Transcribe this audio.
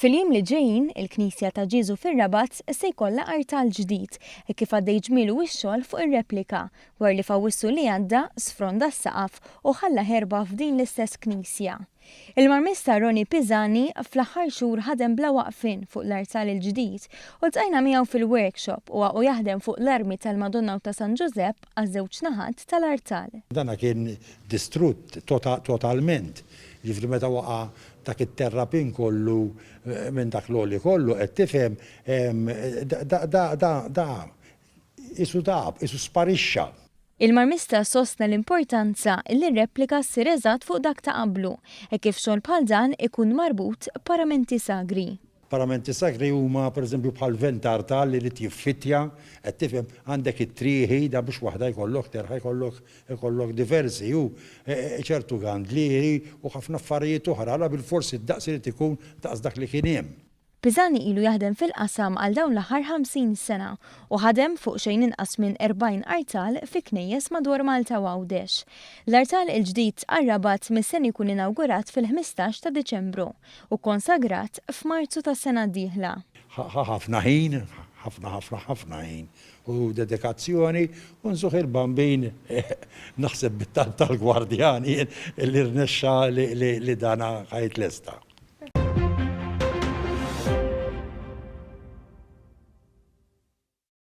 Fil-jiem li ġejjin, il-Knisja ta' Ġieżu fir-Rabat se jkollha artal ġdid hekk kif għaddej ġmielu x-xogħol fuq ir-replika dwar li f'Awwissu li għadda sfronda s-saqaf u ħalla ħerba f'din l-istess knisja. Il-marmista Ronnie Pisani fl-aħħar xhur ħadem bla waqfien fuq l-artal il-ġdid u ltqajna miegħu fil-workshop u u jaħdem fuq l-armi tal-Madonna u ta' San Ġużepp għaż-żewġ naħat tal-artal. Dan kien distrutt totalment, jiġifieri meta waqa' dak it-terrapin kollu minn dak l-għoli kollu, qed tifhem, da qisu dahab, qisu sparixxa. Il-Marmista sostna l-importanza li r-replika ssir eżatt fuq dak ta' qablu, hekk kif xogħol bħal dan ikun marbut b'paramenti sagri. Paramenti sakri huma pereżempju bħal ventar ta' li jrid jiffittja, qed tifhem, għandek it-trieħi, dan biex waħda jkollok terħa jkollok jkollok diversi u ċertu gandlieri u ħafna affarijiet oħra, la bilfors id-daqs irid ikun daqs dak li kien hemm. Pisani ilu jaħdem fil-qasam għal dawn l-aħħar 50 sena u ħadem fuq xejn inqas minn 40 artal fi knejjes madwar Malta u Għawdex. L-artal il-ġdid għar-Rabat mistenni jkun inawgurat fil-ħmistax ta' Diċembru. u konsagrat f'Marzu tas-sena d-dieħla. Ħa ħafna ħin, ħafna ħafna ħafna ħin u dedikazzjoni u nżugħ il-Bambin naħseb bit-talb tal-gwardjan jien li rnexxa li dan ħa jitlesta.